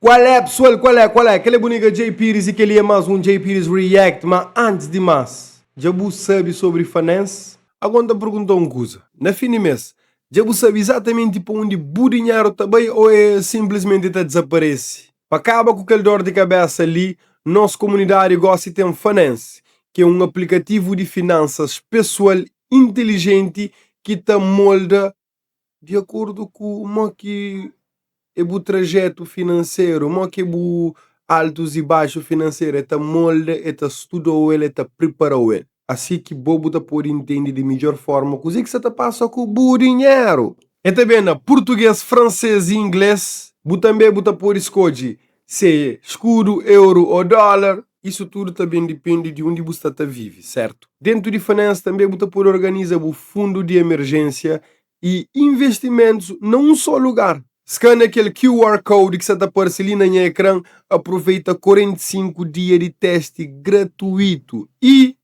Kual é pessoal, kual é, kual é? Kel é bu nigga Djay Pires y kel li é más un Djay Pires React. Má antes di más, dja bu sabe sobri Fanense? Agon ta pergunta un kuza, na fin di mês, dja bu sabe izatamenti pa undi bu dinheru ta bai ô é sinplismenti ta dizaparese? Pa kaba ku kel dor di kabésa li, nos komunidadi gósi ten Fanense, ki é un aplikativu di finansas pesoal inteligenti ki ta molda di akordu ku mo ki e bu trajetu finanseru, mo ki e bu altus y baxu finanseru, e ta molda, e ta studa-u el, e ta priparau el, asi ki bo bu ta podi intendi di midjor forma kuze ki sa ta pasa ku bu dinheru. E ta ben na purtuges, franses y ingles. Bu tanbe bu ta podi skodje Se é skudu, euru ô dólar, isu tudu ta ben dipende di undi bu sta ta vive, sértu? Déntu di Finance tanbê bu ta pode organiza bu fundu di emerjénsia y investimentus na un sô lugar. Skânia kel QR Code ki sta ta parse li na nha ekran, aproveita 45 dia di teste gratuitu y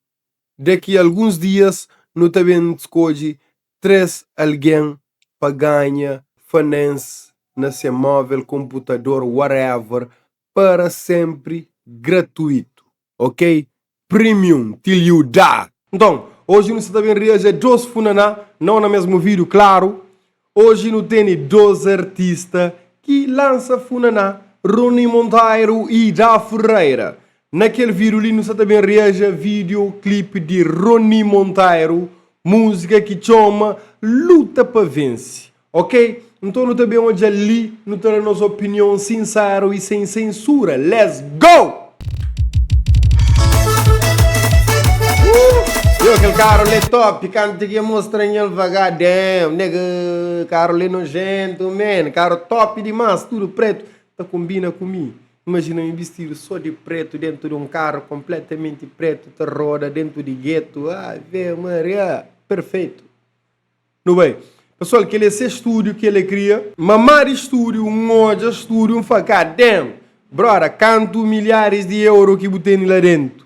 daqui alguns dias nu ta ben skodje Três algen pa ganha finance na se móvel konputador whatever para senpri gratuitu ok premium till you die. Nton oji nu sta ta ben reaja dos funaná nau na mesmu vídiu klaru oji nu tene dos artista ki lansa funaná Rony Monteiro y Da Ferreira Na kel vídiu li nu sta ta ben reaja vídeo clip di Rony Monteiro múzika ki txoma Luta pa vense ok nton nu ta ben odjal li nu ta da nos opinion sinsero i sen sensura let's go! Yow kel karu li é top kantu dja ki é mostra nhel vaga damn nega karu li é nojento man karu top demais tudo preto ta kombina ku mi. Imajina mi bistidu sô di prétu déntu di un karu konplétamenti prétu ta roda déntu di gétu. Ave Maria! Perfeitu! Nu bai. Pesoal, kel-li é se stúdiu ki el é kria. Mama di stúdiu, un odja stúdiu, un fla, Ka den! Bróda, kantu milharis di euro ki bu tene la déntu?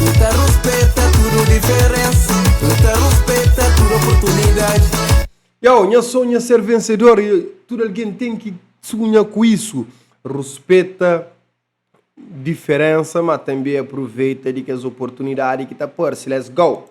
N ta ruspeta tudu diferensa N ta ruspeta tudu oportunidadi. Yow, nha sonhu é ser vensedor e tudu algen ten ki sunha ku isu. Ruspeta diferensa, má tanbê apruveita di kes oportunidadi ki ta parse. Let's go!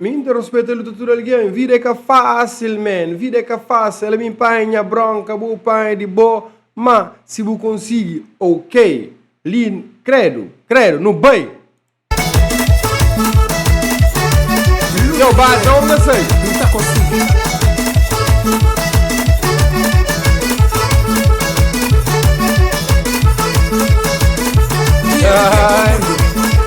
Mi N ta respeta el di tudu algen. Vida é ka fásil, man. Vida é ka fásil. Ala mi panha nha brónka, bo panha di bo. Má, si bu konsigi, ok. Li, Kredu, kredu, nu bai! Yo, ba, ta onga sai? Nu ta konsigi.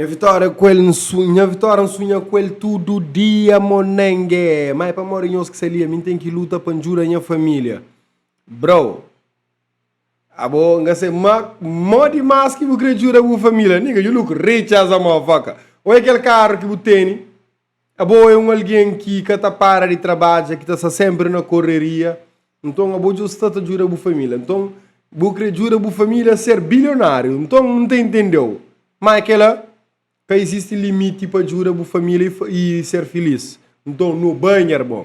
Nha vitória ku el nsu, nha vitória nsunha ku el tudu dia monenge. Mai pamodi nhos ki salia, mi ten ki luta pa njuda nha família. Bro, abo nga se ma, mó dimás ki bu kre djuda bu família. Nigga, you look rich as a motherfucker. Oi kel karu ki bu teni. Abo é un algen ki ka ta para di trabadja, ki ta sta sénpri na korreria. Nton, abo dja sta ta djuda bu família. Nton, bu krê djuda bu família ser bilionáriu. Nton, N ta intende-u. Má é kel-la, ka izisti limiti pa djuda bu família i ser filís. Nton, nu ba nher bo.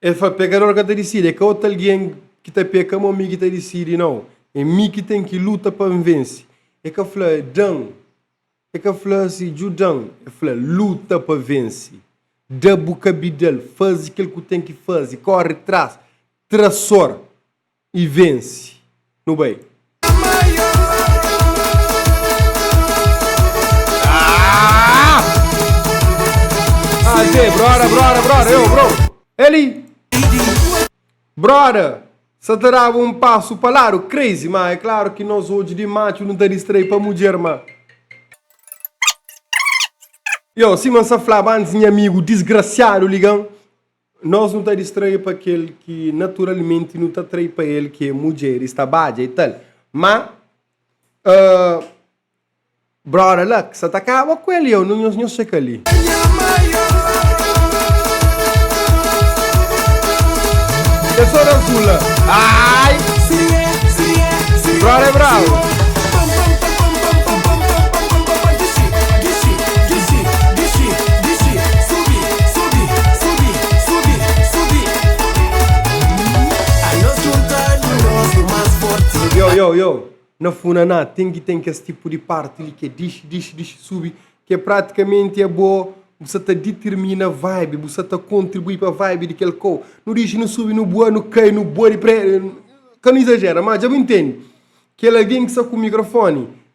El fla, Pekador ka ta disidi, é ka otu algen ki ta peka mô mi ki ta disidi, nau, é mi ki ten ki luta pa N vense. El ka fla, Da-m. El ka fla si, Djuda-m. El fla, Luta pa vense. Da bu kabidal, faze kel ku ten ki faze, kóre tras trasor. i vense. Nu bai. Aze brother brother brother yo bro Eli brother sa ta daba un pasu pa ladu crazy ma é claro ki nos odju di matxu nu ta distrai pa mudjer ma yo sima n sa flaba antis nha amigu disgrasiadu ligan Nos nu ta distrai pa kel ki naturalmenti nu ta atrai pa el, ki é mudjeris, tabadja i tal. Má Brother Luck sta ta kaba ku el i eu, nhos nhos txeka li. Kes sô da Zula aai Brother é brabu. Yow yow yow na funaná ten ki ten kes tipu di parti li ki é dixi dixi dixi subi ki é pratikamenti é bo bu sta ta ditirmina vibe bu sta ta kontribui pa vibe di kel kau nu dixi nu subi nu bua nu kai nu bua di pré ka nu izajera má dja bu intende kel algen ki sta ku mikrofoni.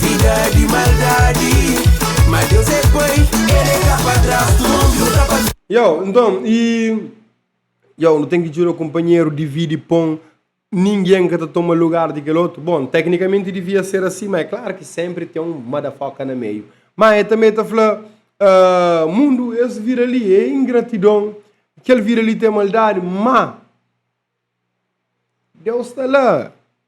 Vida di maldadi Ma Deus é pai El é ka padrastu Nu ta pa. Yow, nton, i. Yow, nu ten ki djuda kunpanheru dividi pon, ningen ka ta toma lugar di kel otu. Bon, teknikamenti divia ser asi, má é klaru ki sénpri ten un motherfucker na meiu. Má el tanbê ta fla, Ahh, mundu, es vida li é ingratidon, kel vida li ta é maldadi, má. Deus sta la.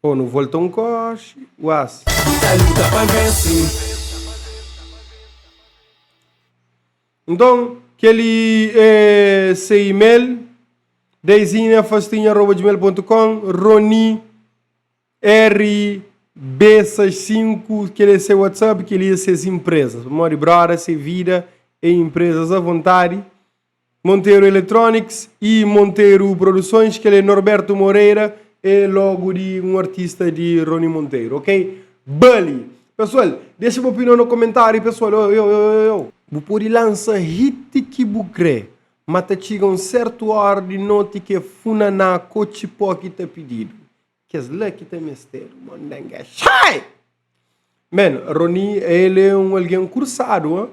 Ô nu volta un kóxe uás. Nu ta luta pa vense. Nton, kel-li é se e-mail, daizinafastinha.gmail.com, roni, RB65, kel-li é se whatsapp, kel-li é ses inprezas. Pamodi, bróda, se vida é inprezas avontadi. Monteiro Electronics y Monteiro Produções, kel é Norberto Moreira, é logo di un artista di Rony Monteiro, ok? Ba li! Pesoal, dexa bu opinion na komentáriu pesoal, oi, oi, oi, oi, oi! Bu pode lansa hit ki bu kre, ma ta txiga un sertu óra di noti ki é funaná ku otxipó ki ta pididu, kes la ki ta mestedu mondengexai! Men, Rony, el é un algen kursadu, ha?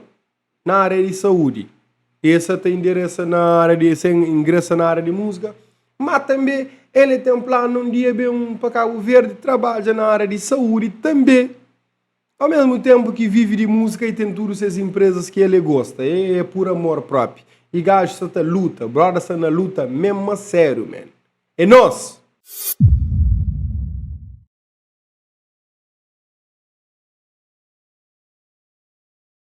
na área di saúde e sa ta indiresa na área di sa ingresa na área di música ma também ele tem plano um dia bem para Cabo Verde trabalha na área de saúde também ao mesmo tempo que vive de música e tem tudo essas empresas que ele gosta é, é por amor próprio e gajo sa ta luta brother sa na luta mesmo a sério man é nós